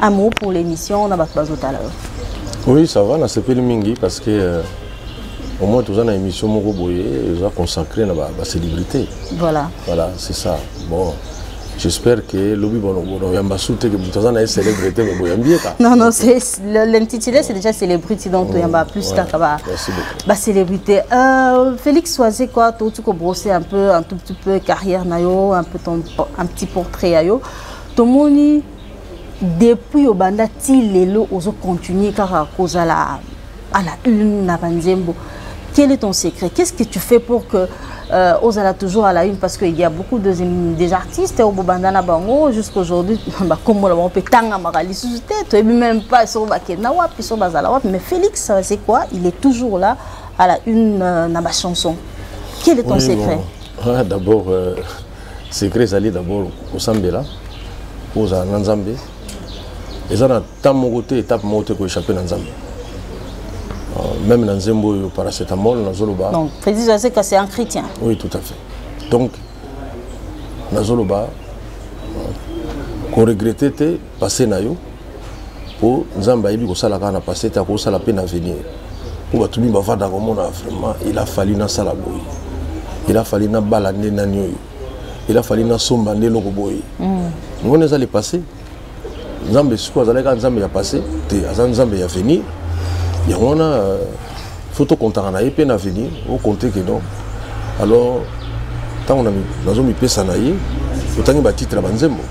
amour pour l'émission na bato bazotala yo oui ça va nasepeli mingi parce que euh, au moins toza na émission moko boye eza consacré na bacélébrité voilà voilà c'est ça bon j'espère que lobi bonoyamba su te ke moto aza na ye célébrité me boyambi ye ka non non l'intitulé c'est déjà célébrité donc mm, toyamba plus kaka bacélébrité euh, félix soise quoi touti kobrosser un peu un tout petit peu carrière na yo un peu ton un petit portrait ya yo tomoni depuis obanda ti lelo ozo continuer kaka kozala à la une na banzembo quel est ton secret qu'est-ce que tu fais pour que euh, ozala toujours à la une parce qu'il y a beaucoup de, des artistes au bobanda na bango jusqu'aujourd'hui bakombola bango mpe tangamaka lisusu te toyebi même pas soko bakenda wapi soko bazala wapi mais félix euh, c'est quoi il est toujours là à la une euh, na bachanson quel est ton oui, secret bon. ah, d'abord euh... secret ezali d'abord kosambela mpo ozala na nzambe eza na temps moko te étape moko te koéchappe na nzambe euh, même na nzembo oyo paracetamol nazoloba c'est un chrétien oui tout à fait donc nazoloba euh, koregrete te passé na yo mpo nzambe ayebi kosala kaka na passé te akosala mpe na avenir mpo bato mingi bavanda komona vraiment il a fallu nasala boye il a fallu nabala nde nani oyo il a fallu nasomba nde eloko boye mm. ngoni eza le passé nzambe sikoyo azalaki kaka nzambe ya passé te aza nzambe ya avenir yango wana euh, faut tokontaka na ye mpe na avenir okonte ke donc alors ntango nazomipesa na ye otangi batitre ya banzembo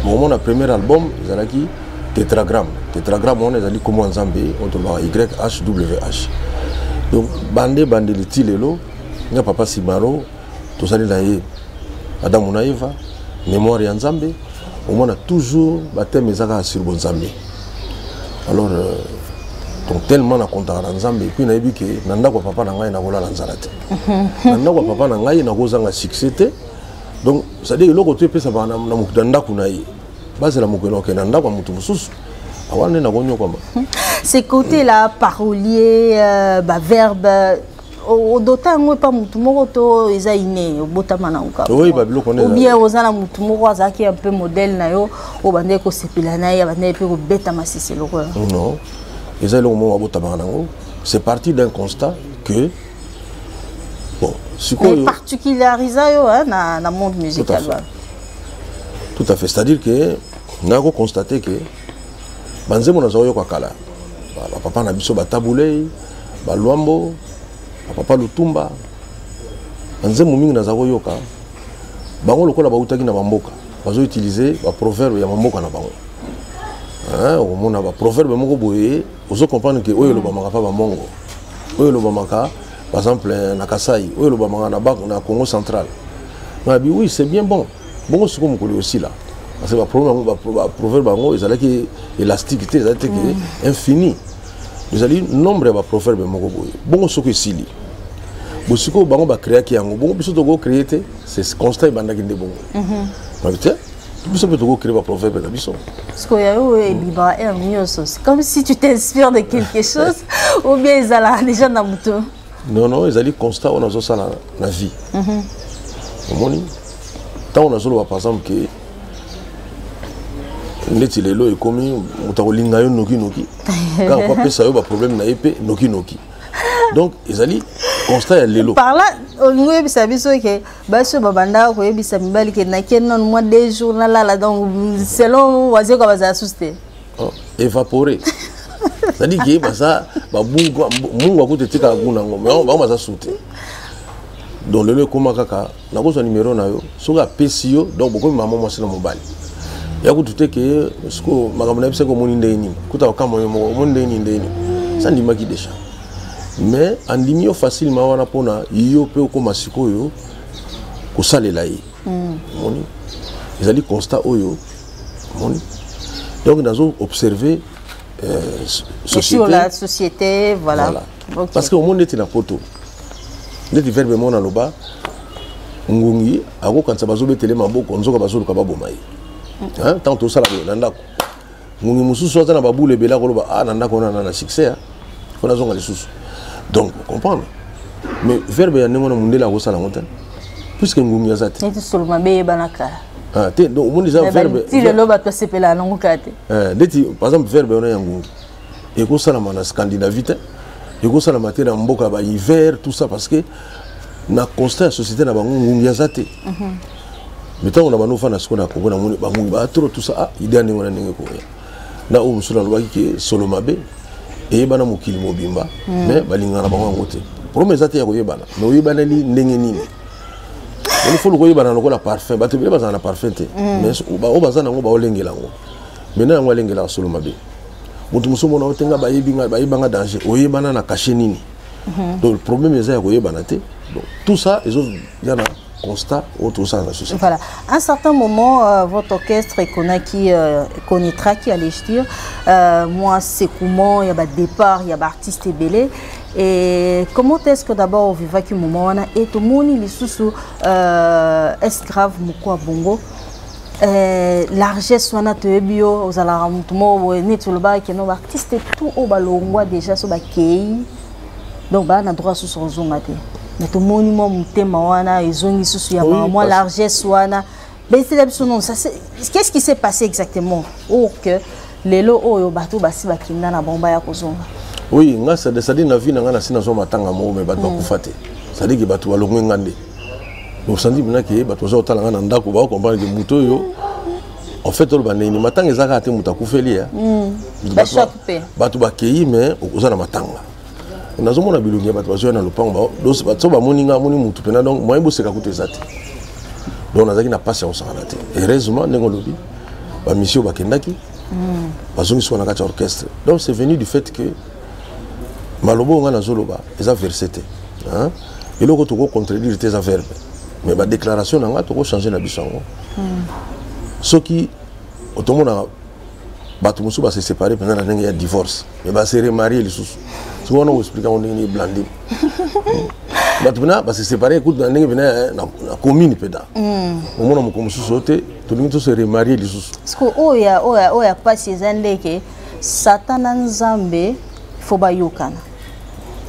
mokomo na premier album ezalaki tetragramme tetragramme wana ezali nkombo ya nzambe oyo tolobaka yhwh donc bande ebandeli ti lelo nga papa simaro tozali na ye adamu na eva mémoire ya nzambe omona toujours bateme eza kaka sur bonzambe alors euh, donc tellement nakontaka na nzambe epuis nayebi ke na ndako ya papa na ngai nakolala nzala te na ndako ya papa na ngai nakozanga succès te donc cestadire eloko to epesaka na ndako na ye bazela mokolo okende na ndako ya moto mosusu awana nde nakonyokwama c'est côté la parolier euh, baverbe odota yango epa motu moko to eza ine obotama na okaobien oza na motu moko azalaki un peu modèle na yo oyo bandaki kosepela na ye abandaki mpe kobeta masisi lokola non eza eloko moko abotamaka nango c'est parti d'un constat que bon sikoyo particularisa yo na, na monde musical wana tout à fait c'est à dire que nako constate que banzembo nazoyoka kala bapapa na biso batabulei baluambo bapapa lutumba banzembo mingi naza koyoka bango lokola bautaki na bamboka bazo utilize baproverbe ya bamboka na bango okomona baproverbe moko boye ozo comprendre ke oyo elobamaka mpa bamongo oyo elobamaka par exemple na kasai oyo elobamaka na congo central nabi oui c'est bien bon bongo sikoyo mokolo osila parce que baproverbe yango ezalaki élastique te ezalaki te ke mm. infini ezali nombre ya baproverbe moko boye bongo soki esili bosikoyo bango bacreaki yango bongo biso tokocree te c'est constat ebandaki nde bongo mhm. babi te biso mpe tokocree baproverbe na biso sikoyo yayo oyo ebibaka heure nyonso comme si tu t'inspire de quelque chose ou bien ezalaka déjà na moto non non ezali constat oyo nazosala na vie mhm. omoni ntango nazoloba par exemple ke ndeti lelo ekomi moto akolinga yo nokinoki kaka mpo apesa yo baproblème na ye mpe nokinoki donc ezali constat ya lelo parla olingi oyebisa biso ke basi oyo babandaka koyebisa mibali ke nake non mwa deux jours nalala donc selon wazeko bazala susu te oh, évapore zali ke baza babungwa mungu akuta etikaka kuna yango bango baza su te donc lelo ekóma kaka nakozwa nimero na yo soki apesi yo donc bokomi mama mwasi na mobali ya kutu te ke siko makambo na yebisaki omoni ndenge nini kuta okama yo moko omoni ndenge nini ndenge nini sa ndimaki deja mais andimi yo facilement wana mpona yo mpe okoma sikoyo kosalela ye hmm. omoni mm. ezali constat oyo omoni donc nazo observe euh, société, sur la société voilà, voilà. okay. parce que omoni ndeti na poto ndeti verbe moko naloba ngungi akokanisa bazobetele maboko nzoka bazoluka baboma ye ntango tosala boye na ndako ngungi mosusu aza na babule ebele akoloba a ah, na ndako wana na succès mpo nazonga lisusu donc comprendre mais verbe ya ndenge wana mondele akosala yango te puiske ngungi aza te ah, te donc omoni eza verbe lelo bato basepelaka nango kaka te eh, ndeti par exemple verbe wana ya ngungi ekosalama na scandinavie te ekosalama te na mboka ba hiver tout ça parce que na constat ya société na bango ngungi aza te mhm. mais ntango na bando ofanda sikoyo na kongo namoni bangungi ba trop tout ça ah idea ndenge wana ndenge koya na oyo mosusu nalobaki ke solo mabe eyebana mokili mobimba mhm. mais balingana bango yango te problème eza te ya koyebana mais oyebaneli ndenge nini il faut lokoyebana lokola parfum bato ebele bazala na parfum te mhm. mais oyo baza na yango baolengela yango maintenant yango alengelaka solo mabe moto mosusu omona yo te nga bayebi nga bayeba nga danger oyebana na kashe nini mhm. donc problème eza ya koyebana te donc tout ça ezoya na constat oyo tozosala na société voilà un certain moment euh, votre orchestre ekonaki euh, ekonitraki euh, allais-je dire euh, moi secouement ya badépart ya baartiste ebele et comment est-ce que d'abord ovivaki moment wana e tomoni lisusu euh, esgrave moko ya bongo Eh, largesse wana toyebi yo ozalaka motu moko boye neti olobaka keno baartiste tout oyo balongwa déjà so bakei donc baa na droit susu kozonga te mais tomoni mwa motema wana ezongi susu ya mama mwa largesse wana betela biso non qu'est-ce qui s'est passé exactement oyo que lelo oyo bato basi bakenda na bango baya kozonga oui nga cestadire na vie na nga nasi nazwa matanga moko me bato mm. bakufa te cestadire ke bato balongwe nga nde osandi mpena ke bato baza kotala ngai na ndako bakokomprendre ke moto oyo en fait oloba ndenge nini matanga eza kaka te moto akufeli ya bato bakei mais oza na matanga nazomona bilongi ya bato bazoya na lopango so bamoni ngai amoni motu mpena donc moyen boseka kutu eza te donc nazalaki na mpasi ya kosakana te heureusement ndenge olobi bamisio bakendaki hmm. bazongisi wana kati ya orchestre donc c'est venu du fait que maloba oyo ngai nazoloba eza verse te eloko toko contredire te eza verbe mais badéclaration na ngai toko change na biso yango hmm. soki otomonaka bato mosusu base séparé mpenza na ndenge ya divorce mais base remarie lisusu soki wana oexplike yango ndenge nini blandi bato mpena base séparé ekutu na ndenge mpena eh, na commune mpena hmm. omona moko mosusu oyo te tolingi tose remarie lisusu oyo ya mpasi eza ndeke satan na nzambe fo bayokana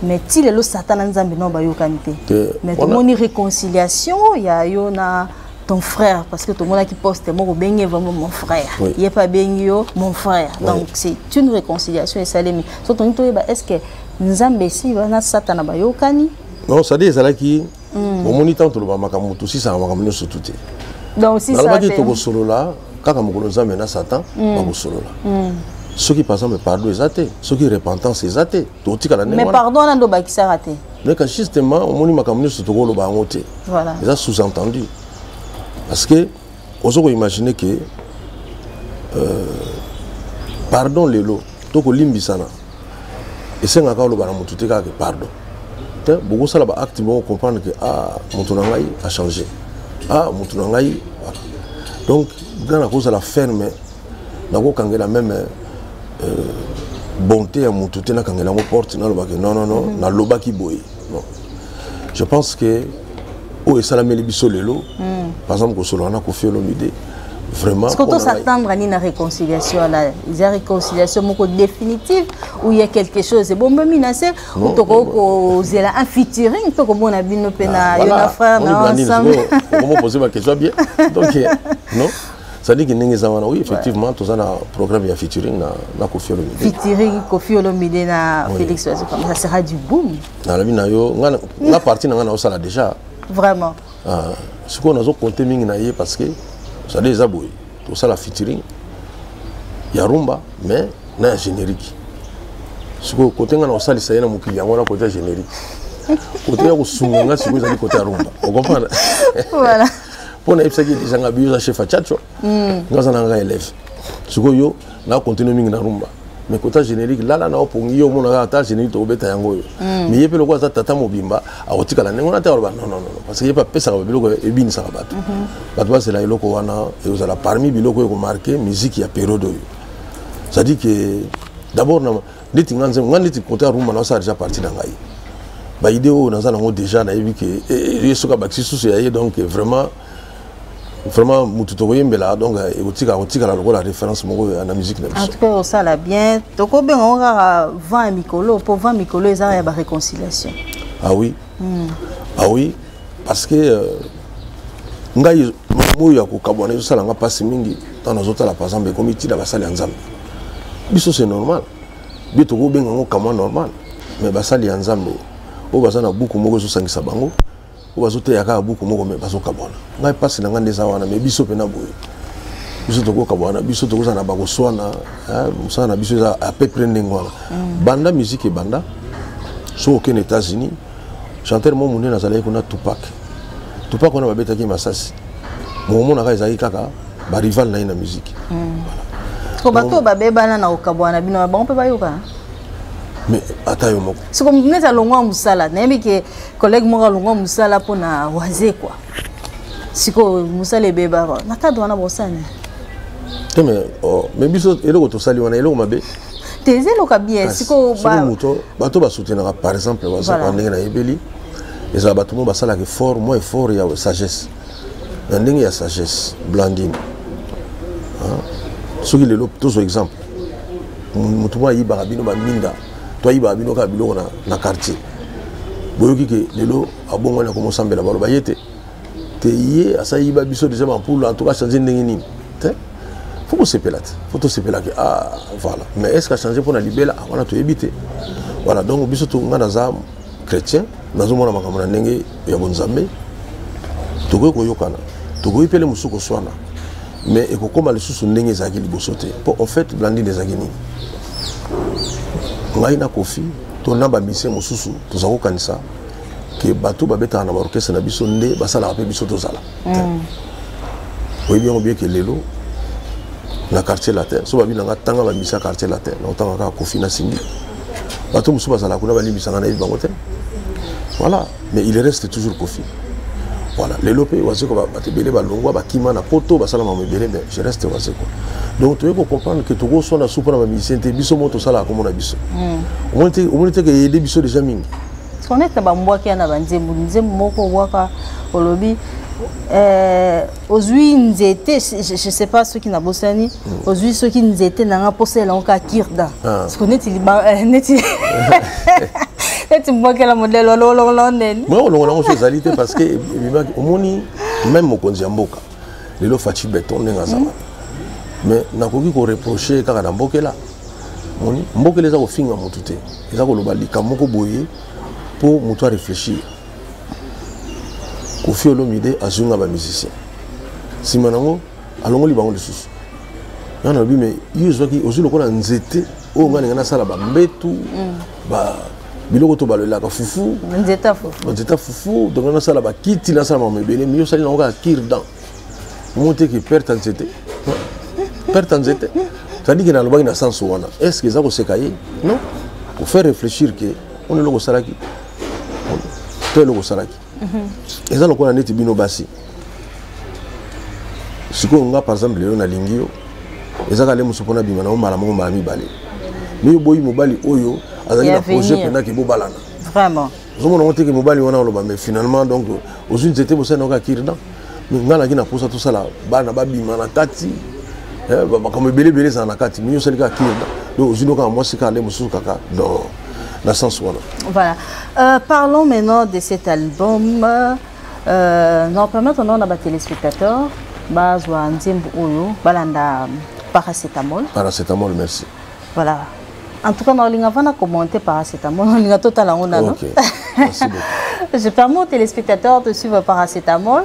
mais ti lelo satan na nzambe nao bayokani te mais tomoni réconciliation ya yo na ton frère parce que tomonaki poste moko obengi vraiment mon frère oui. ye mpe abengi yo mon frère oui. donc c'est une réconciliation esalemi so tolingi toyeba est ce que nzambe esi na satana bayokani non sadi ezalaki hmm. omoni ntango tolobaka makambo tosisaka makambo nyonso tu te nalobaki tokosolola kaka mokolo nzambe na satan mm. bakosolola mm. soki par exemple pardon eza te soki repentance eza te tokotikala mais pardon wana nde obakisaka te mais kasi justement omoni makambo nyonso tokoloba yango te eza sous entendu parce que ozo koimagine ke euh, pardon lelo tokolimbisana esengaka oloba na motu te kaka ke pardon te bokosala baacte moko comprendre ke a ah, motu na ngai achange a ah, motu na ngai donc nga nakozala ferme nakokangela meme euh, bonté ya motu te nakangela yango porte nalobake non non non mhm. nalobaki boye non je pense que oyo esalameli biso lelo hmm. par exemple kosolola na kofi olomide vraiment soki tosatendre nini na réconciliation wana eza réconciliation moko définitive ou ya quelque chose ebombami na se ou tokoki kozela un featuring mpe komona bino mpe na ah, yo na frère na ensemble okomopose baquestion bien donc eh, non sadiki ndenge eza wana oui effectivement toza na programme ya featuring na kofi olomide featuring kofi olomide na félix wazo comme ça sera du boom nalobi na yo nga parti na nga naosala déjà vraiment ah, sikoyo nazo compte mingi na ye parce que osali eza boye tosala featuring ya rumba mais na ya générique sikoyo kote nga na kosalisa ye na mokili yango na kote ya générique kote ya kosunga nga sikoyo ezali kote ya rumba okomprendre mpo nayebisaki deja nga biyo eza chef ya chacho hmm. nga aza na nga élève sikoyo na continue mingi na rumba mais kota générique lala na opongi yo omonaka ata générique tokobeta yango oyo hmm. mais ye mpe lokola aza tata mobimba akotikala ndenge wana te aloba non non non parce que ye mpe apesaka babiloko ebinisaka bato mhm. bato bazela eloko wana ekozala parmi biloko oyo ekomarke musique ya periode oyo c'est à dire que d'abord ndeti nga nzembo nga ndeti kota rumba na osala déjà parti na ngai baide oyo naza nango déjà nayebi ke eh, eh, ye soki abakisi susu ya ye donc vraiment vraiment mutu tokoyembela donc eh, ekotika kotikala lokola référence moko eh, na musique na biso en tout cas osala bien tokobenga ngo kaka vent ya mikolo mpo vent mikolo eza ya baréconciliation ah oui mm. ah oui parce que euh, ngai moyo ya kokabwana ezosala nga mpasi mingi ntango nazotala par exemple ekomi ntina basali ya nzambe biso c'est normal bi tokobenga ngo kamwa normal mais basali ya nzambe oyo baza na buku moko ezosangisa bango oyo bazoteya kaka buku moko me bazokabwana ngai mpasi na ngai nde eza wana me biso mpe na boye biso tokokabwana biso tokozala na bakoswana mosala na biso eza apepre ndenge wana mm. banda miziki ebanda soki okende états-unis chanteur mo monene azalaki kuna tupak tupak wana babetaki masasi mokomonaka ezalaki kaka barival na ye na miziki mm. bato oyo babebana na kokabwana bino na bango mpe bayoka mais ata yo moko soko moto neti alongwa mosala nayebi ke collègue moko alongwa mosala mpo na wazekwa sikoyo mosala ebebaka na cadre wana bosani te me oh, biso eloko tosali wana eloko mabe te eza eloka bien sikoyo moto bato basoutenaka par exemple wazekwa ndenge nayebeli ezala bato moko basalaka effort mwa effort ya sagesse na ndenge ya sagesse blandine soki lelo tozwa exemple moto moko ayibaka bino baminda toyibaka bino kaka biloko na, na quartier boyoki ke lelo abongwani akoma osambela baloba ye te te ye asayiba biso deja bampulu en tout cas change ndenge nini te fo kosepela te fo tosepela ke ah, voilà mais est ce que achange mpo na libela ah, wana toyebi te voilà donc biso to ngai naza chrétien nazomona makambo na ndenge ya bonzambe tokoki koyokana tokoki mpele mosusu koswana mais ekokoma lisusu ndenge ezalaki liboso te mpo en fait blandine ezalaki nini ngai na kofi to na bamisie mosusu toza kokanisa ke bato babetaka na baorkestre na biso nde basalaka mpe biso tozala mm. oyebi yango bieke lelo na quartier latin so babi na nga tanga bamisi ya quartier latin na otanga kaka kofi na simbi bato mosusu bazalaka kuna balimbisaka nayebi bango te voilà mais il reste toujours kofi voilà lelo mpe wazeko bato ebele balongwa bakima na poto basala mamo ebele mais je reste wazeko donc toyei kocomprendre ke tokoswa na supa na bamusicien te biso moko tosalaka kombo na biso hmm. omoni te ke eyede biso déjà mingi sonete bambwaki ya na banzembo nzembo moko obwaka olobi eh, ozwi nzete je sais pas soki nabosani hmm. ozwi soki nzete na nga mposa elango kaka kirda ah. siko neti eh, neti neti mbokela modele wana olongola o nene mwa olongola yango so ezali te parce que ebimaki omoni meme mokonzi ya mboka lelo faci beton ndenge azala hmm. mais nakoki koreproche kaka na mbokela moni mbokela eza kofinga motu te eza koloba likambo moko boye mpo motu areflechir kofi olomide azwi nga bamusicien nsima nango alongoli bango lisusu nga nalobi me yo ozwaki ozwi lokola nzete oyo nga ninga nasala bambetu mm. ba biloko to balelaka fufu nzeta fufu nzeta fufu donc nasala bakiti nasala mama ebele mi osali nango kaka kirdan omoteki perte nzete perte nzete tandis ke nalobaki na sense wana est ce que eza koseka ye non kofaire réfléchir ke ono eloko osalaki to eloko osalaki mhm. eza lokola neti bino basi sikoyo nga par exemple lelo nalingi yo eza kale mosu mpona bima na yo mbala moko mbala mibale mi oboyi mobali oyo azali na projet mpenza ke bobalana vraiment ozomona ngo teke mobali wana oloba mais finalement donc ozwi nzete bosani oka kirdan mais ngai naki na mposa tosala bana babima na kati eh, makambo ebele ebele ezala na kati mi osali kaka kirdan donc ozwi nokaka mwasi kaka nde mosusu kaka non na sens wana voilà euh, parlons maintenant de cet album euh, na permettre nao na batelespectateur bazwa nzembo oyo balanda paracetamol paracetamol merci voilà en tout cas naolinga vana commenter paracetamol olinga totala yango nano je permets aux téléspectateurs de suivre paracetamol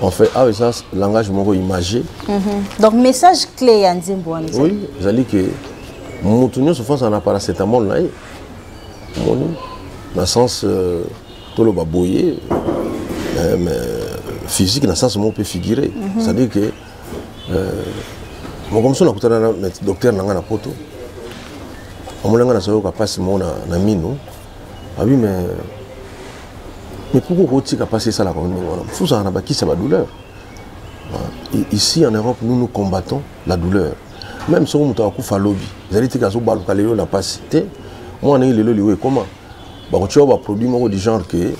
En fait, ah, ça, langage moko imagé. Mm -hmm. Donc, message clé ya nzembo wana. Oui, ezali que mutu nyonso fo azala na paracetamol na ye. Omoni? Na sens euh, toloba boye euh, mais physique na sens moko mpe figuré. Mm -hmm. C'est-à-dire que euh, moko mosusu nakutana na docteur na ngai na poto amonanga nazoyoka mpasi moko na mino Ah oui, mais. Mais pourquoi Rotika passer ça là comme Il faut ça, on a qui ça va douleur. Ah, ici en Europe, nous nous combattons la douleur. Même si on a un coup à lobby, vous allez dire que vous avez un passe. Moi, on a eu le lobby, comment Bah, tu as un produit du genre que.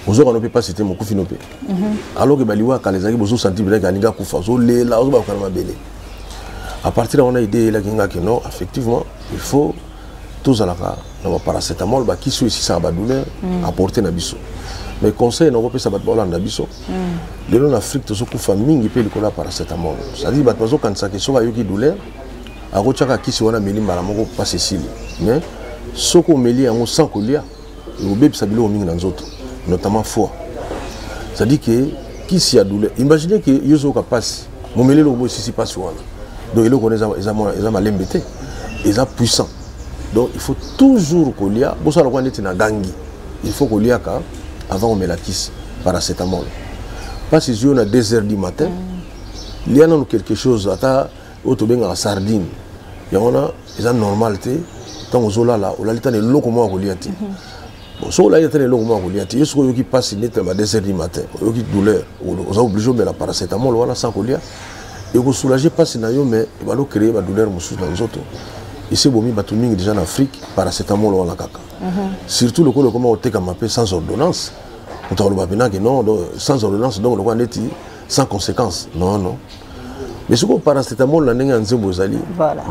ozoka nope mpasi te mokufi nope mhm. alors ke baliwa kala ezalaki bozosanti bilaki alingi akufa ozolela ozobakokana mabele à partir ya wana ide eyelaki ngaki non effectivement il faut tozalaka na ba paracetamol ba kisi oyo esisaka ba douleur mm. apporte na biso mais conseil na kopesa bato baolanda biso mm. lelo na afrique tozokufa mingi mpe likolo ya paracetamol cetadire bato bazokanisaka soki ayoki douleur akotyaka kisi wana ameli mbala moko mpasi esili mais soki omeli yango sans kolia ekobebisa biloko mingi na nzoto notamment foi c'est-à-dire que kisi ya douleur imagine ke yo ozoyoka mpasi momeli eloko boesisi mpasi wana donc eloko wana eza malembe te eza puissant donc il faut toujours kolia bosala lokola ndeti na gangi il faut koliaka avant komela kisi paracetamol mpasi ezwi yo na 2 heures du matin mm. lia nano quelque chose ata oyo tobengaka sardine yango wana eza normal te ntango ozolala olali tana eloko moko akolia te mhm. bon soki olali tana eloko moko akolia te yo soki oyoki mpasi neti na ba 2 heures du matin oyoki douleur oza oblige omela paracetamol wana sa kolia ekosoulage mpasi na yo mais ebanda ocreye badouleur mosusu na nzoto esi ebomi bato mingi deja na afrique paracetamol wana kaka mhm. surtout lokola ekoma kotekama mpe sans ordonnance moto akoloba mpenake non sans ordonnance donc lokola neti sans conséquence non non mais sikoyo paracetamol na ndenge ya nzembo ezali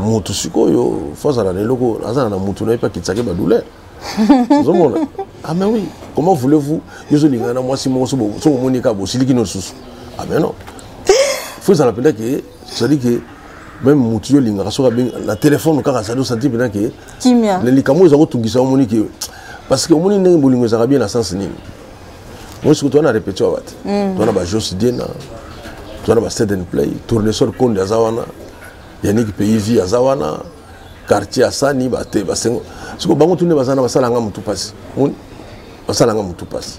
motu sikoyo fo azala na eloko azala na motu na ye mpe akitisake badouleur ozomona ah mais oui comment voulez-vous yo ozolingana na mwasi moko soki omoni kaka bosiliki no lisusu ah mais non fo ezala mpenza ke cetadi ke même motu yo olingaka soki abengi na telefone kaka sadi osanti mpenza ke likambo eza kotungisa omoni ke parce que omoni ndenge bolingo ezalaka bien na sens nini mosi kutu wana repeti wa bate mm. wana bajos diena wana basteden play tournesol konde aza wana yaniki peivi aza wana quartier asani bate basengo siko bango tunde baza na basala nga motu mpasi basala nga motu mpasi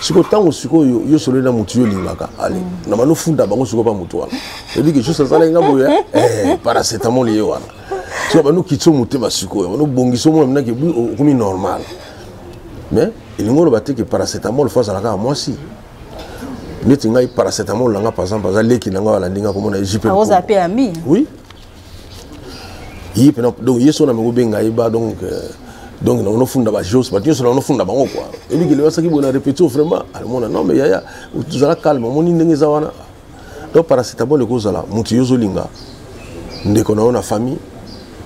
siko ntango sikoyo yo sololi na motu yo olingaka ale mm. na bano funda bango siko mpa motu wana ebiki jus asalaki nga boye eh, paracetamol ye wana siko bano kitso motema sikoyo bano bongisa omona minaki okomi normal mais elingi oloba te ke paracetamol fo azalaka ya mwasi neti ngai paracetamol na ngai par exemple aza leki na ngai alandi ngai komona ejipeoza mpe ami oui ye mpena donc ye so na meko benga ye ba donc euh, donc na onofunda ba jos bato nyonso na onofunda bango kua ebikeli basaki boye na repetio vraiment alimona non mais yaya tozala calme omoni ndenge eza wana donc paracetamol ekozala moto yo ozolinga ndeko na yo na famille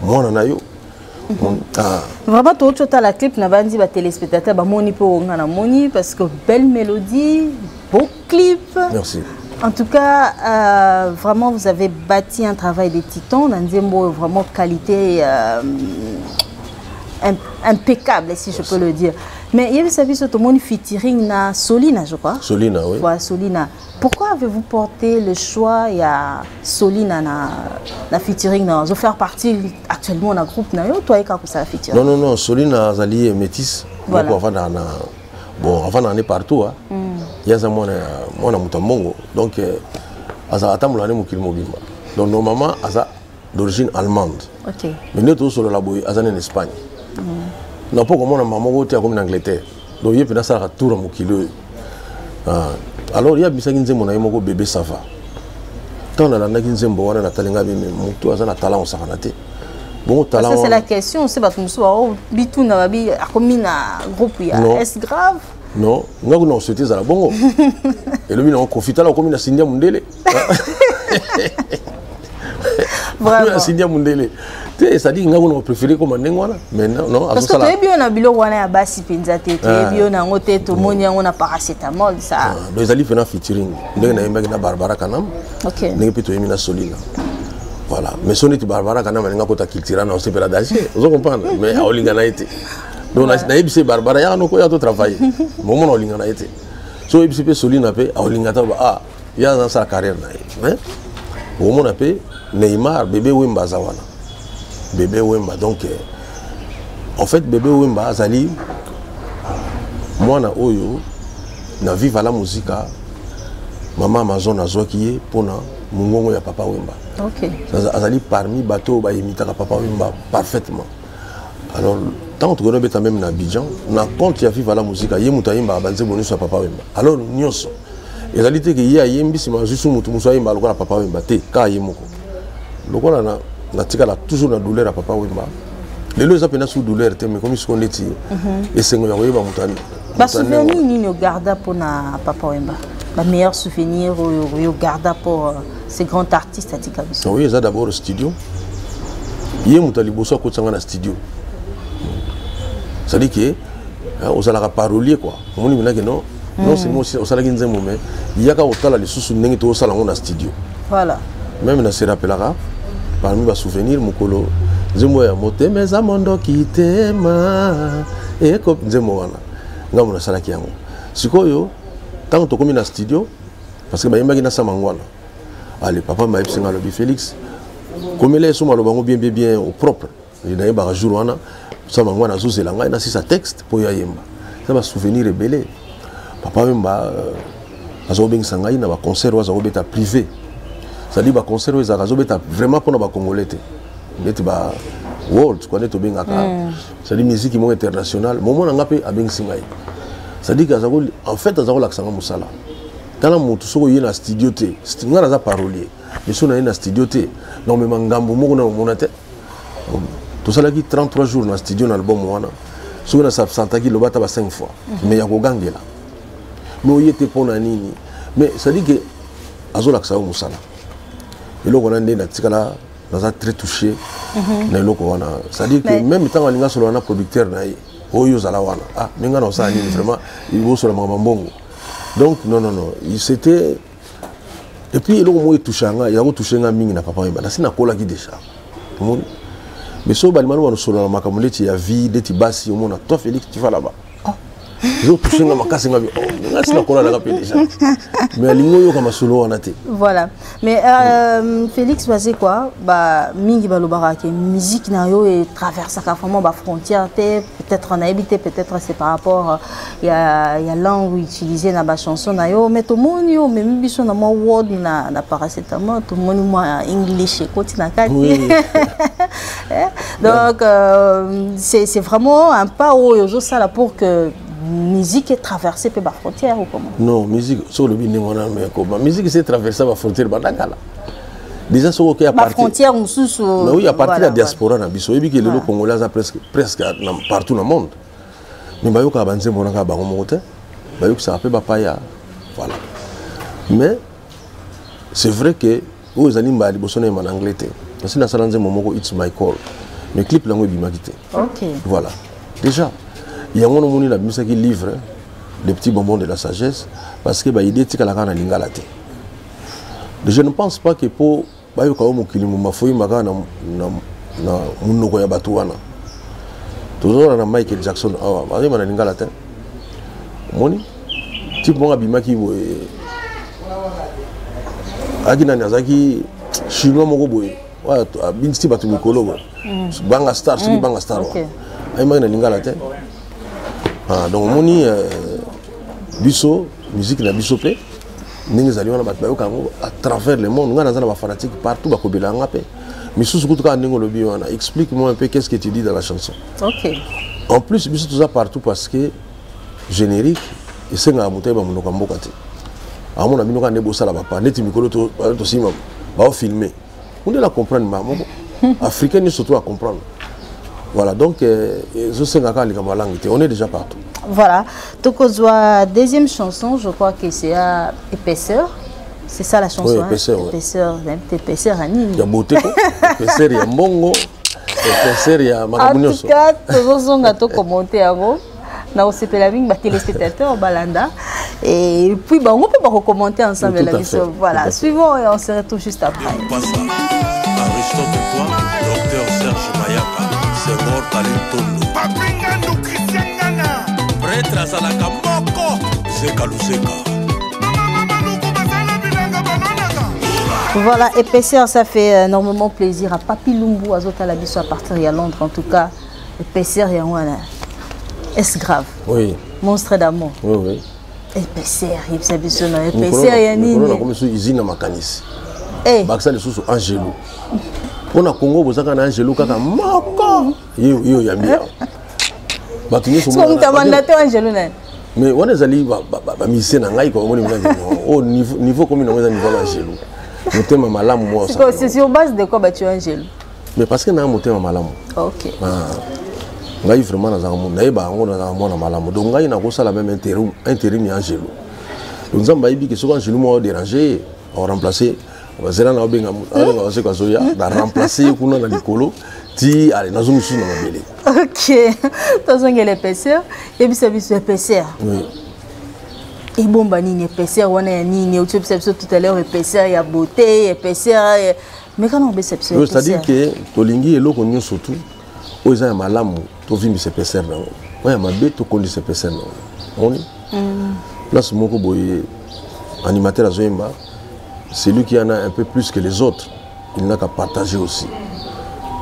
mwana na yo mhm. ah. vraiment touti otala clip na banzi batelespectateur bamoni mpe onga na moni parce que belle mélodie beau clip merci En tout cas, euh, vraiment, vous avez bâti un travail de titan. Nanzembo, vraiment qualité euh, impeccable, si je peux le dire. Mais il y avait ce monde featuring na Solina, je crois. Solina, oui. Voilà, Solina. Pourquoi avez-vous porté le choix ya Solina na, na featuring na zo faire partie actuellement na groupe na yo toi eka kosala featuring Non non non Solina azali métisse voilà. moko avanda na bon avanda ne partout hein. Mm. Ye aza mwana mwana moto ya mbongo donc euh, aza atambola ne mokili mobimba donc normalement aza d'origine allemande okay. mais nde tozosolola boye aza nene Espagne mm. na mpo komona mama moko te akomi na Angleterre donc ye mpenza asalaka tour ya mokili oyo ah. alors ye abisaki nzembo na ye moko bebe sava ntango nalandaki nzembo wana natali ngai meme motu aza na talan kosakana te bongo talan c'est la question se bato mosusu bao bituna babi akomi na groupe ya s grave non ngai kuna koswete ezala bongo elobi nango kofi tala okomi na sindia mondele vraiment sindia mundele te ça dit nga ko préféré comme ndenge wana mais non non parce que toyebi yo na biloko wana ya basi penza te toyebi yo na ngo te to moni yango na paracetamol ça ah, donc ezali fena featuring ndenge na yembaki na Barbara Kanam OK ndenge pe toyemi na Solina voilà mais so neti Barbara Kanam alinga kota cultura na osepela danger ozo comprendre mais aolinga na ye te donc nayebisi Barbara yaka nokoya to travailler momona olinga na ye te so oyebisi mpe solina mpe aolinga ta ah ye aza asala carrière na ye mais okomona mpe neymar bebe wemba aza wana bebe wemba donc euh, en fait bebe wemba azali mwana oyo na viva la musica mama amazon azwaki ye mpona mongongo ya papa wemba okay. azali parmi bato oyo bayimitaka papa wemba parfaitement alors ntango tokoki nabeta meme na abidjan na compte ya viva la musica ye moto ayembaka banzembo nyonso ya papa wemba alors nyonso ezali te ke ye ayembi nsima azwi su moto mosusu ayemba lokola papa wemba te kaka ye moko lokola na natikala toujours na douleur ya papa wemba lelo eza mpena su douleur te mais komi siko ndeti mhm. esengo ya koyeba moto ba souvenir nini ogarda mpo na papa wemba ba meilleur souvenir oyo oyo ogarda mpo euh, ce grand artiste atika biso oyo eza d'abord studio ye moto ya liboso akotisa ngai na studio cestadi ke hein, ozalaka parolier kua omoni minake no non hmm. seulement osalaki nzembo me yaka kotala lisusu ndenge tokosala yango na studio voilà meme na se rappelaka parmi ba souvenir mokolo nzembo ya motema eza mondoki tema eko nzembo wana ngambo nasalaki yango sikoyo ntango tokomi na studio parce que bayembaki na samangwana ale papa mayebisi nga alobi félix komela esomo aloba yango bien bien bien au propre nayebaka jour wana sama yango wana azozela ngai nasisa texte mpo yo ayemba eza basouvenir ebele papa wemba euh, aza kobengisa ngai na baconcert oyo aza kobeta privé cetadi baconcert oyo ezalaka azobeta vraiment mpo na bacongolais te neti ba world kua nde tobengaka hmm. cetadi miziki moko international momo na ngai mpe abengisi ngai cetadi ke en fait aza kolakisa ngai mosala tala motu soki oye na studio te ngai naza parolier miso na ye na studio te nakomema ngambo moko na omona te tosalaki 33 jours na studio na album wana soki na s'absentaki loba ata ba 5 fois mhm. mais ya kogangela mais oye te mpo na nini mais cestadi ke azolakisa yo mosala eloko wana nde natikala naza très touché mhm. na eloko wana cestadi ke meme ntango alinga solola na producteur na ye oyo ozala wana ah me ngai na osala nini vraiment bosola makambo mbongo donc non non non c'était et puis eloko moko etouche yanga yango touche nga mingi na papa wemba nasi nakolaki déjà omoni mais soki balima loba nosolola makambo ndeti ya vie ndeti basi omona toi félix tu vas là-bas ah. ezotouche nga makasi nga oh, ngasi nakola nanga mpe déjà mais alingi oyoka masolo wana te voilà mais euh, félix baze kua ba, mingi balobaka ke musique na yo etraversaka vraiment bafrontière te peut-être nayebi te peut-être c'est par rapport ya, ya langue utilise na bachanson na yo mais tomoni yo omemi biso na mwa word na, na paracetamol tomoni mwa english ekoti na kati oui. Eh, donc euh, c'est vraiment un pas oyo ozosala pour que musique est traversée mpe bafrontière ou comment non musique soki olobi ndenge wana mekoma musique ese traverse bafrontière banda kala déjà soki oke bafrontière mosusu oui à partir ya diaspora na biso oyebi ke lelo congolais aza presque partout na monde mais bayokaka banzembo wana kaka bango moko te bayokisaka mpe bapaya voilà mais c'est vrai que oyo ezali mbala liboso nayema na anglais te nasi nasala nzembo moko its my call mais clip yango ebimaki te voilà déjà yango nomoni nabimisaki livre le petit bonbon de la sagesse parce que baide etikalaka na lingala te je ne pense pas que mpo bayoka yo mokili moma foyima kaka na, na, na monoko ya bato wana tozozala na michael jackson awa ah, bayeba na lingala te omoni type moko abimaki boye ayaki nani azalaki chinois moko boye abindisi bato mikolo boye mm. banga star soki mm. banga star wa ayemaki na lingala te ah, donc omoni euh, biso musique na biso mpe ndenge ezali wana bato bayoka yango à travers le monde ngai naza na bafanatique partout bakobela nga mpe misusu kutu kaka ndenge olobi wana explique moi un peu qu'est ce que tu dis dans la chanson okay. en plus biso toza partout parce que générique esengaka moto ayeba monoko ya mboka te amona bino kaka nde bosala bapa neti mikolo tosimba baofilme ondela comprendre mbala moko africain nyonso to acomprendre voilà donc euh, ezosenga kaka likambo ya langue te on est déjà partout voilà tokozwa deuxième chanson je crois que c'est ya épaisseur c'est ça la chanson oui, épaisseur, hein? ouais. épaisseur, épaisseur ya nini ya beauté ko épaisseur ya mbongo épaisseur ya makambo nyonso en tout cas tozozonga tokomonte yango nakosepela mingi batelespectateur balanda et puis bango mpe bakocommenter ensemble na biso voilà suivant et on se retrouve juste après aristote toi docteur serge mayaka sengor talentondo papingandu christian ngana pretre azalaka moko zeka luseka Voilà, épaisseur, ça fait euh, énormément plaisir à Papi Lumbu, à Zotala Bisso à partir de Londres en tout cas. Épaisseur yango wana. Est-ce grave? Oui. Monstre d'amour. Oui, oui. Épaisseur, yebisa biso na épaisseur ya nini? Mokolo na komi so usine na makanisi. Eh. Bakisa lisusu Angelo. Mpo na Congo bozaka na Angelo kaka moko. Yo yo yambi. Bato nyonso mona. Soki mtabanda te Angelo na. Mais wana ezali ba ba ba musicien na ngai ko omoni mwana. Oh niveau niveau komi na eza niveau ya Angelo. Motema malamu mwa. Siko c'est sur base de quoi batu Angelo? mais parce que na motema malamu okay. ah. ngai vraiment nazalaka mona nayeba yango nazalaka mwana malamu donc ngai nakosala meme interim, interim ya angelo donc nzambe ayebi ke soki angelo moko aderange ye aoremplace bazela na obenga abenga baseko azoya na remplace ye kuna na likolo ti ale nazo mosusu na mabele ok tozongela épaisseur yebisa biso épaisseur oui. ebomba nini épaisseur wana ya nini otiyebisa biso tout à l'heure épaisseur ya beauté épaisseur meka na obesa biso c'est à dire que tolingi eloko nyonso tu oyo eza ya malamu tovimbisa epeser na yango oyo ya mabe tokondisa epeser na yango omoni mm. place moko boye animateur azoyemba celui qui en a un peu plus que les autres il n'a qu'à partager aussi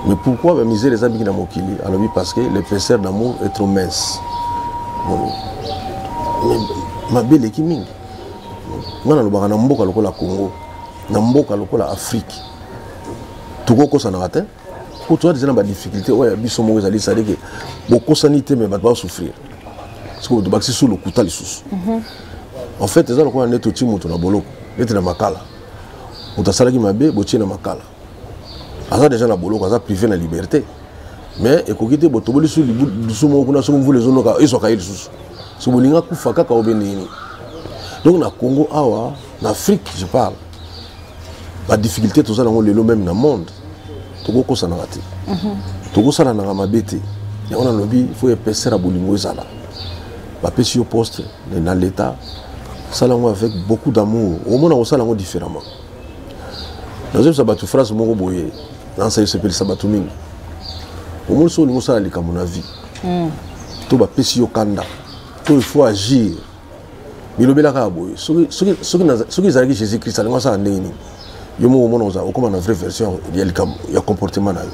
mais pourquoi ba misère eza mingi na mokili alobi parce que l'épaisseur d'amour est trop mince mabe eleki mingi nga nalobaka na mboka lokola congo na mboka lokola afrike tokokosanaka te mpo toza deja na badifficulté oyo ya biso moko ezali sadeke bokosani te me bato basouffrir sikoyo tobakisi su lokuta lisusu mhm. en fait eza lokola nde toti moto na boloko neti na makala moto asalaki mabe botie na makala aza deja na boloko aza privé na liberté mais ekoki te botoboli su lisu moko kuna soki mvula ezonoka ezwaka ye lisusu so bolinga kufa kaka obendeyini donc na congo awa na afrique je parle badifficulté toza nango lelo meme na monde tokokosanaka te mhm. tokosalanaka mabe te yango nalobi fo epesera bolingo ezala bapesi yo poste na leta sala yango avec beaucoup d'amour omona kosala yango différemment nazoyebisa bato phrase moko boye nansa esepelisa bato mingi omoni soki olingi osala likambo na vie hmm. to bapesi yo kanda to il faut agir bilobela kaka boye soki ezalaki jésus christ alingi asala ndenge nini yo moko omona oza okoma na vraie version ya likambo ya comportement na yo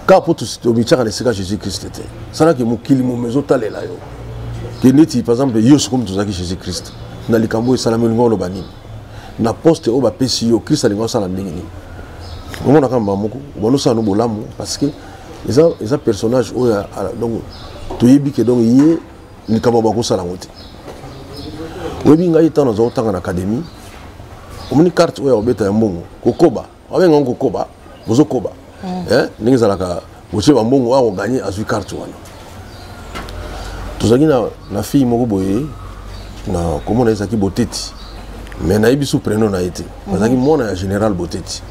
kaka mpo tomityaka na esika jésus christ te salaki mokili momo ezotalela yo ke neti par exemple yo sokomi tozalaki jésus christ na likambo oyo esalami olingi oloba nini na poste oyo bapesi yo christ alingi asala ndenge nini omonaka mbaa moko obanosala no bolamu parce que eza, eza personnage oyo donc toyebi ke donc ye likambo bakosala yango te oyebi ngai ntango nazwa kotanga na académie omoni carte oyo ya kobeta ya mbongo kokoba babenga yango kokoba bozokoba mm. eh, ndenge ezalaka botie bambongo oyo akoganye azwi carte wana tozalaki na, na fille moko boye na komona ezalaki boteti mais nayebi su preno na ye te mm. azalaki mwana ya général boteti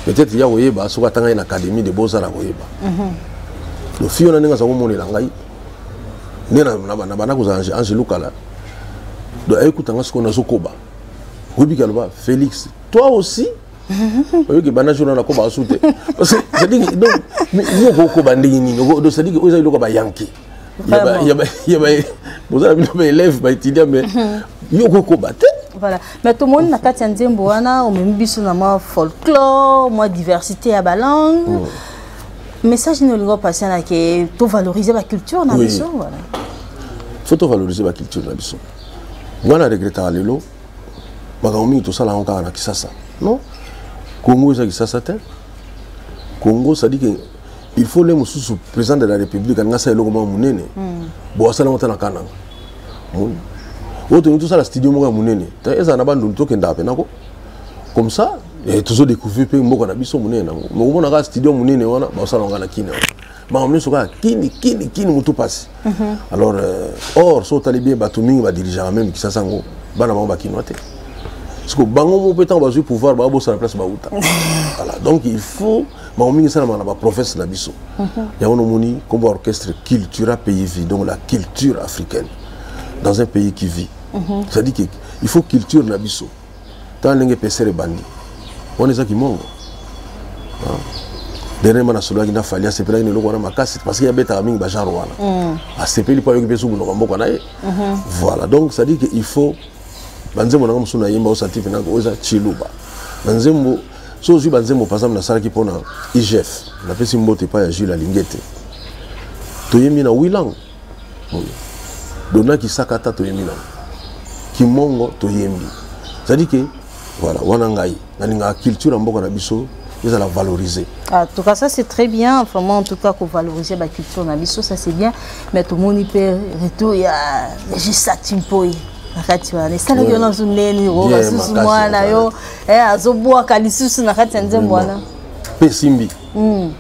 peut-être ya koyeba soki atanga ye na académie de beaux-arts akoyeba mm -hmm. lofiyo na ndenge aza komonela ngai nde na banda kozala angelo kala donc ayekuta nga sikoyo nazokoba oyebi kaloba félix toi aussi oyoki banda jour na koba su te yo okokoba ndenge nini cestadire oyo eza eloko ya bayanke bozala bino baélève baétudiant mais yo okokoba te voilà mais tomoni na kati ya nzembo wana omemi biso na mwa folklore mwa diversité ya balangue mm. message nini olingi opasa na ke tovalorize baculture na biso wana fo tovalorize baculture na biso ngai na regretaka lelo makambo mingi tosala yango kaka na kisasa non congo eza kisasa te congo sadike il faut le mosusu président de la république alingi asala eloko moko monene hmm. bo asala yango ata na kananga oyo tolingi tosala studio moko ya monene ezala na bandundu tokendaka mpenako comme ça eh, tozo découvrir mpe mboka na biso monene nango mokomona kaka studio monene wana baosala yango na kini makambo nyonso kaka kini kini kini motu mpasi mhm. alors euh, or so otali bien bato mingi badirigeaka meme kisasa yango bana bango bakinois te siko bango moko mpe ntango bazwi pouvoir babosana place bauta voilà donc il faut makambo mingi esalamaka na baprovince na biso mhm. yango nomoni nkombo orchestre cultura pays vie donc la culture africaine dans un pays qui vit Mhm. cest dit que il faut culture na biso tala ndenge pesere ebandi wana eza kimongo ah. dernièrement nasololaki na fali asepelaki na eloko wana makasi parce que abetaka mingi bagenre wana mm. asepeli mpo ayoki mpe so monoko mboka na ye mhm. voilà donc cest dire que il faut banzembo nanga mosusu nayemba osanti mpe nako oza chiluba banzembo so ozwi banzembo par exemple nasalaki mpo na igf napesi mbote epai ya jules alingete toyembi na wilang dona kisaka ata toyembi nango kimongo toyembi cestadi ke voilà wana ngai nalingaka culture ya mboka na biso ezala valoriser ah, tout cas ça c'est très bien vraiment en tout cas ko valoriser ba culture na biso ça c'est bien mais tout moni pe retour ya juste ça timpoye na kati wana esalaki yo nazo neni o basusu mwana yo eh, azobwaka lisusu na kati ya nzembo wana mpe esimbi mm.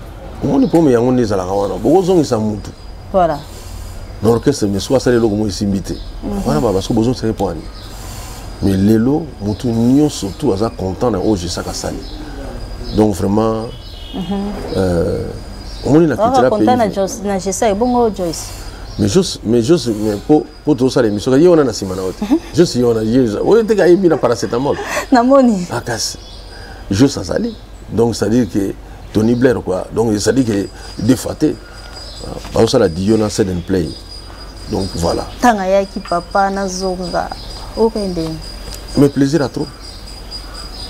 omoni problème yango nde ezalaka wana bokozongisa mutu voilà na orchestre mais soki asali eloko moko esimbi te mhm. wana baba soki bozongisaki mpo ani mais lelo mutu nyonso tu aza content na oyo jesaka asali donc vraiment mhm. euh, omoni na kitela pays na jesa ebongo joyce mais jos mais jos mais mpo po tozosala émission ye wana na nsima na yo te jos ye wana oyo teke ayembi na paracetamol namoni makasi jos azali donc c'est à dire que tony blair quoi donc c'est à dire que defa te bazosala diyo na sed and play donc voilà ntango ayaki papa nazonga okende mais plaisir à trop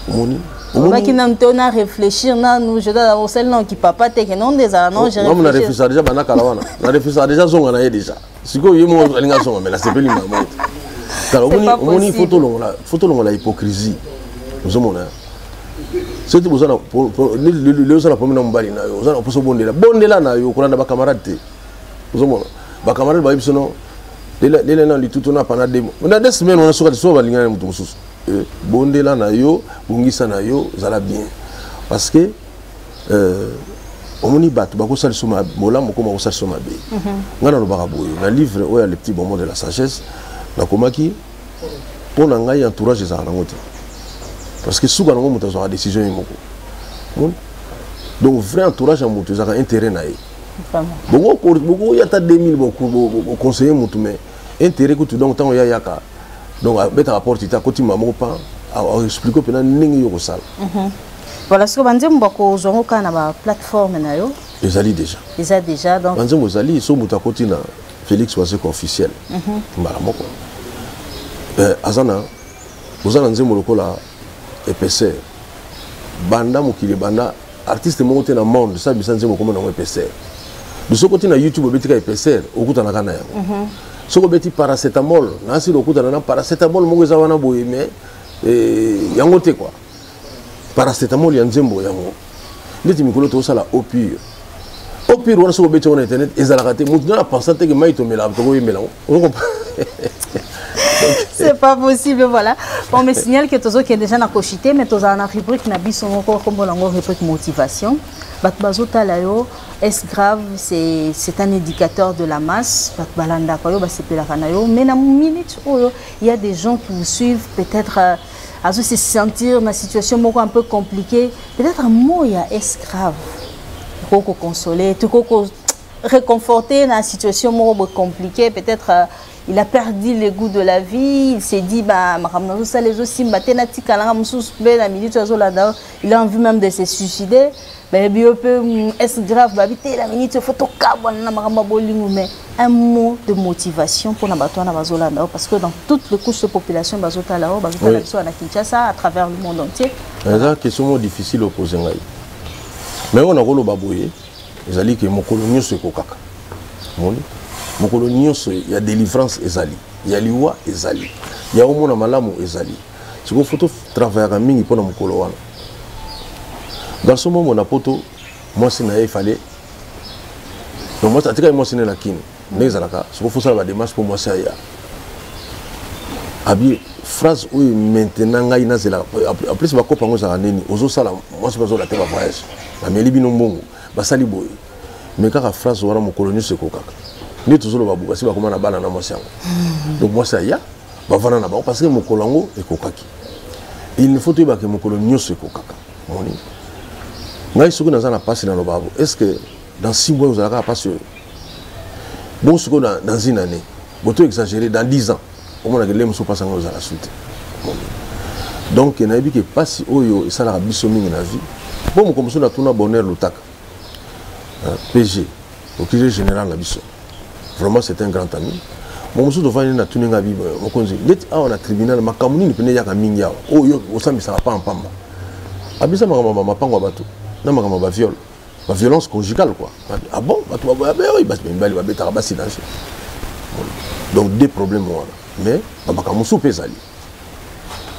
omoni olobaki nanu te ona réfléchir nanu je dois osali nanu kipapa te ke non nde ezala non je réfléchir na refusaka déjà banda kala wana na refusaka déjà zonga na ye déjà sikoyo ye moko alingi azonga me nasepeli mama te tala omoni foto olongola hypocrisie ozomona soki lelo oza na problème na mobali na yo oza na mposa obondela bondela na yo kolanda bacamarade te ozomona bacamarade bayebi sono lele na litutu na pana demo na de semaine wana soki lisusu balingana na moto mosusu eh, bondela na yo bongisa na yo zala bien parce que euh, omoni bato bakosala liso bolamu okoma kosala liso mabe mhm. ngai nalobaka boye na livre oyo ya le petit bonbon de la sagesse nakomaki mpo na ngai entourage ezalaka nango te parce que suka nango moto azwaka décision ye moko donc vrai entourage ya moto ezalaka intérêt na ye bokoya ata 2000 boconseille motu mais intérêt kutu donc ntango yayaka donc abetaka porte te akoti mbala moko pa aexplike mpena ndenge yo kosala mhm. voilà siko banzembo bakozwa ngo kaka na baplateforme na yo ezali déjà eza déjà donc banzembo ezali so moto akoti na félix wazeko officiel mhm. mbala moko eh, aza na oza na nzembo lokola épaisseur banda mokili banda artiste moko te na monde sa bisa nzembo komona yango épaisseur soki oti na youtube obeti ka épaisseur okutanaka na yango mhm. soki obeti paracetamol na asili okutana na paracetamol moko eza wana boye mais eh, yango te kua paracetamol ya nzembo yango ndeti mikolo tokosala eau pure eau pure wana soki obeti yango na internet ezalaka te motu nana pensa te ke mai tomelaka tokoyembela yango c'est pas possible voilà on me signale que tozokende déjà na kochite mais tozala na rubrique na biso moko kombo nango rubrique motivation bato bazotala yo est grave c'est un éducateur de la masse bato balandaka yo basepelaka na yo mais na minute oyo il y a des gens qui vous suivent peut-être euh, azo se sentir na situation moko un peu compliqué peut-être mot ya escrave ekoki koconsoler tokoki ko réconforter na situation moko boye compliqué peut-être euh, il a perdu le goût de la vie il s'est dit ba makambo nazosala ezosimba te natikalanga mosusu mpe na minute azolanda il a envie même de se suicider bayebi yo mpe mm, est grave babi te la minute faut tokabwana na makambo ya bolingo mais un mot de motivation mpona bato wana bazolanda yo parce que dans toutes les couches de population bazotala yo bazotala biso wana kinshasa à travers le monde entier eza question moko difficile opose ngai mais oyo nakoloba boye ezali ke mokolo nyonso ekokaka moni mokolo nyonso ya délivrance ezali ya liwa ezali ya omona malamu ezali sikoyo foto travaillaka mingi mpo na mokolo wana garçon momo na poto mwasi na ye efale donc mwasi atikaki mwasi ne na kini ndenge ezalaka sikoyo fosala bademarche mpo mwasi aya abi phrase oyo maintenant ngai nazelaka en plus bakopa yango ezalaka nini ozosala mwasi bazola te bavoyage bameli bino mbongo basali boye me kaka phrase wana mokolo nyonso ekokaka nde tozoloba bo basi bakoma na bana na mwasi yango donc mwasi aya bavanda na bango parce que mokolo yango ekokaki il ne faut toyeba ke mokolo nyonso ekokaka moni ngai soki naza na mpasi naloba est ce que dans six mois ozalaka na mpasi oyo bongo sikoyo dans une année boto exagéré dans dix ans omonaka ele mosusu mpasi yango ozala su te donc nayebi ke mpasi oyo esalaka biso mingi na vie mpo mokolo mosusu natuna bonheur lutaka euh, pg okili général na biso vraiment c'est un grand ami momosusu tofandi na tuni nga bible mokonzi ndeti awa na tribunal makambo nini mpene eyaka mingi awa oyo oh, osambisaka pamba mpamba abisa makambo ma mapango ya bato na makambo ya baviole baviolence conjugale quoi ah bon bato baboyabeoi basi mibali babetaka basi na nse donc des problèmes wana mais bamakambo mosusu mpe ezali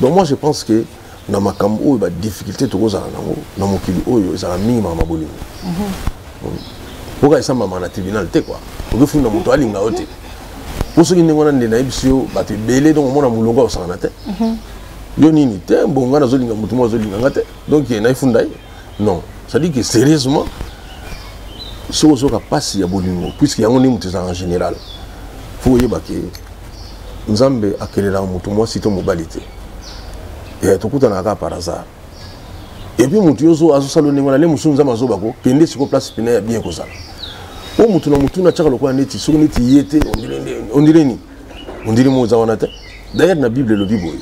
donc moi je pense que na makambo oyo badifficulté tokozala nango na mokili oyo ezalaka mingi makambo ya bolingo mhm. oka esambamaka na tribunal te kua okefunda moto alinga yo te mpo soki ndenge wana nde nayebisi yo bato ebele donc omona molongo akosakana te mhm. yo nini te mbongo nga nazolinga moto moko azolinga nga te donc ye nayefunda ye non ça dit que sérieusement soki ozoka mpasi ya bolingo puiske yango nde moto ezalaka général fo oyeba ke nzambe akelelaka moto mwasi to mobali te eh, tokutanaka kaka par hasard epuis moto yo azosala ndenge wana nde mosusu nzambe azoba ko kende siko place pene ya bien kozala mpo moto na motu na atyaka lokola neti soki neti ye te ondire nini ondimi mo oza wana te dayere na bible elobi boye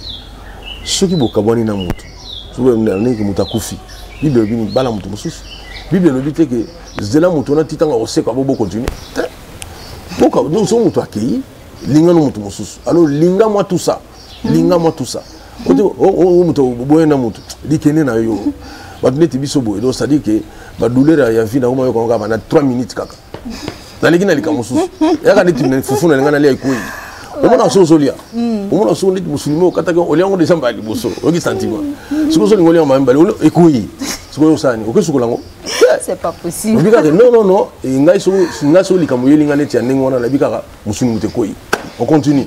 soki bokabwani na motu soki moto akufi bible elobi nini bala moto mosusu bible elobi te ke zela moto wana ti ntango akosekwa bo bokontinue te soki moto akei linga no moto mosusu alors linga mwa tout ça linga mwa tout ça ote oh, oh, oh, moto boye na moto likende na yo bato neti biso boye donc c'est-à-dire ke badouleur ya vie nakomayokango kaka na 3 minutes kaka naleki na likambo mosusu yaka neti fufu na linga nalia ekwei omona so ozolia hmm. omona so neti mosuni mo okataki olia yango deja mbala liboso oyoki santima hmm. soki ozolinga olia mbala mibale ekwei sikoyo osani okesukola yango c'est pas possible obi kaka non non non eh, ngai so ngai so likambo yeli ngai neti ya ndenge wana nabi kaka musuni mutekoi on continue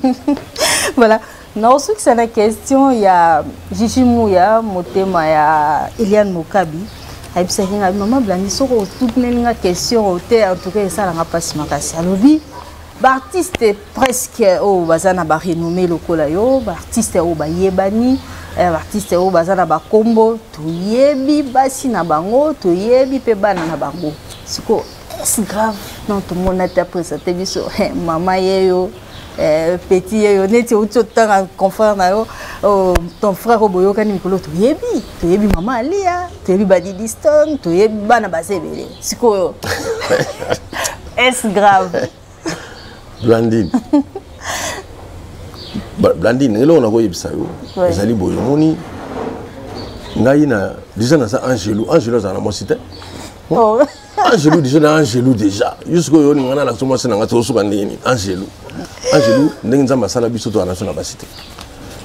voilà naosukisa na question ya jiji muya motema ya eliane mokabi ayebisaki ngai mama blandi soki otutuneli nga question te en tout cas esalanga mpasi makasi alobi baartiste presque oyo oh, baza na barenommé lokola yo baartiste oyo oh, bayebani eh, baartiste oyo oh, baza na bakombo toyebi basi na bango toyebi mpe bana na bango sikoyo est grave non tomona te apresente biso eh, mama ye yo Eh, petit yeyo neti outi otanga confrère na yo oh, ton frère oyo boyokani mikolo toyebi toyebi mama aliya toyebi badidiston toyebi bana baza ebele sikoyo est grave blandine blandine eloko nakoyebisa yo ezali boye omoni ngai na deja naza angelu angelu azala na mwasi te oh. angelu deja na angelu deja jusque oyo olinga na lakisa mwasi na ngai tosuka ndenge nini angelu angelu ndenge nzambe asala biso to anaso na basi te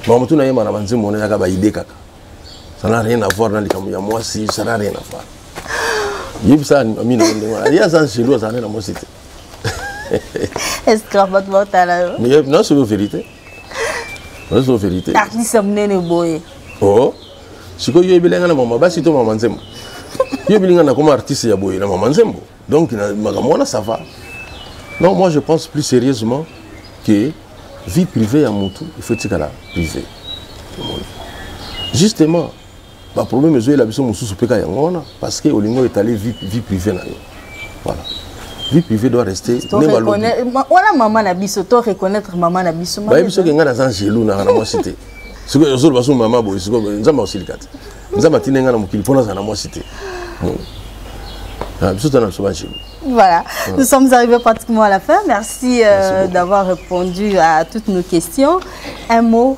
makambo tuna yemba na banzembo wana yaka baide kaka ça n'a rien à voir na likambo ya mwasi ça n'a rien à voir yebisa amina ndenge wana ye aza angelu azala nde na mwasi te esclave bato baotala yo nasoki verité ozo verité artiste munene boye oh sikoyo yo yebeli ngai na mama basi to mama nzembo yo yebeli ngai nakoma artiste ya boye na mama nzembo donc makambo wana ça va non moi je pense plus sérieusement que vie privée ya mutu il faut etikala privée justement ba problème ezoyela biso mosusu mpe ka yango wana parce que olingi oyo etali vie, vie privée na yo voilà vie privée doit rester wana mama na biso to reconnaître mama na biso bayebi soki ngai naza angelu naka na mwasi te soki ozoloba so mama boye siko nzambe akosilika te nzambe atindi ngai na mokili mpo nazala na mwasi te ah, biso tana biso bangelu Voilà, ouais. nous sommes arrivés pratiquement à la fin. Merci, euh, Merci d'avoir répondu à toutes nos questions. Un mot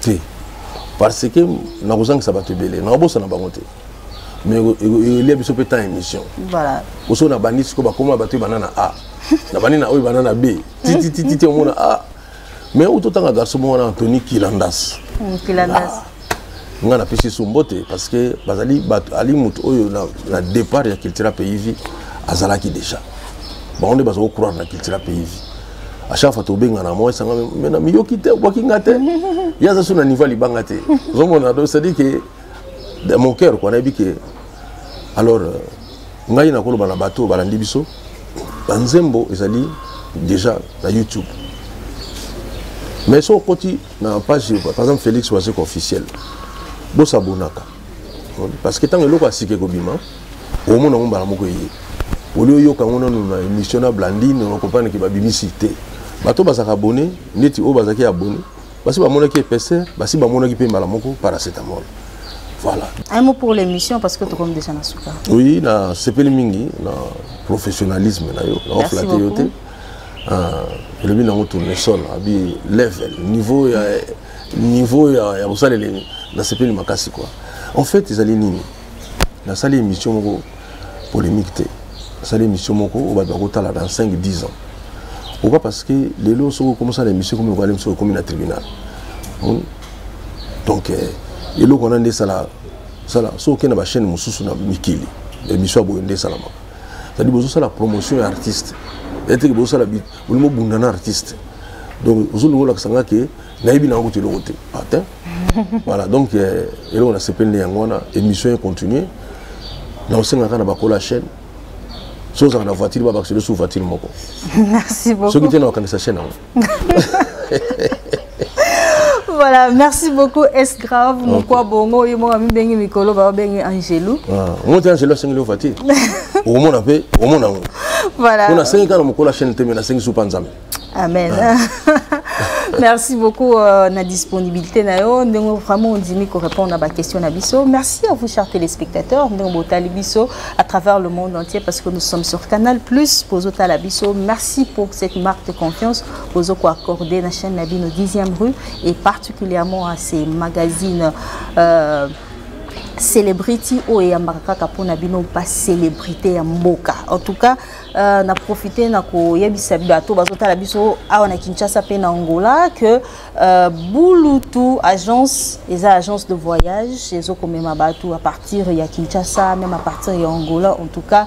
te parce que nakozangisa bato ebele nakobosana bango te mais elia biso mpe temps ya émission oso nabandi sikoyo bakoma bato ebanda na a nabandi na oyo ebanda na b tititititi omona a mais oyo totanga garçon moko wana antony kilandas hmm, ah. ngai napesi so mbote parce que bazali bato ali moto oyo na départ ya cultura pays vie azalaki déjà bango nde baza kocroire na cultura pays vie à chaque fois tobengana moi esanga mena miyoki te obwaki nga te ye aza so na niveau ya libanga te ozomona do cestadire ke de mon cœur kua nayebi ke alors euh, ngai nakoloba na bato balandi biso banzembo ezali déjà na youtube mais soki okoti na page par exemple félix wazeko officiel bosabonaka parce que ntango eloko ya sika ekobima omona yango mbala moko eye oli oyoka yango nanu na émission na blandine okompane ke babimisi te bato bazalaka abone neti oyo bazalaki abone basi bamonaki épaisseur basi bamonaki mpe mbala moko paracetamol voilà un mot pour l'émission parce que tokomi déjà na suka oui na sepeli mingi na professionnalisme na yo na oflate yo te elobi nango tournesol abi level niveau ya niveau ya, ya mosaleli nasepeli makasi quoi en fait ezali nini nasali émission moko polémique te nasali émission moko oyo bato bakotala dans 5 10 ans pourquoi parce que lelo soki okomisala émission ekomi lokola lemi soki ekomi na tribunal hmm? donc eh, eloko wana nde esala sala soki okenda bachaîne mosusu na mikili émission ya boye nde esalamaka cetadi bozosala promotion ya artiste eteke bozosala olingi obunda na artiste donc ozoluka olakisa nga ke nayebi nango kutu eloko te atin ah, voilà donc euh, eloko nasepeli nde yango wana émission econtinue naosengaka na bakola ya chaîne soki ozalaka na voiture babakiselo su voiture moko soki te na okanisa chaîne yango voilà merci beaucoup es grave mokwa bongo oyo moko amibenge mikolo babenge angelu ah, omoti angelu asengeli ova te okomona mpe omona yango voilà mpo nasengi kaka na mokolo ya chaîne te me nasengi supa nzambe amen ah. merci beaucoup euh, na disponibilité na yo ndenge vraiment ondimi korépondre na baquestion na biso merci à vous chers téléspectateurs ndenge botali biso à travers le monde entier parce que nous sommes sur canal plus bozotala biso merci pour cette marque de confiance bozo ko accorder na chaîne na bino 10e rue et particulièrement à ces magazines euh, célébrité oyo eyambaka kaka mpo na bino bacélébrité ya mboka en tout cas euh, na profite na koyebisa bato bazotala biso awa na kinshasa mpe na angola que euh, bulutu agence eza agence de voyage ezokomema bato à partir ya kinshasa même à partir ya angola en tout cas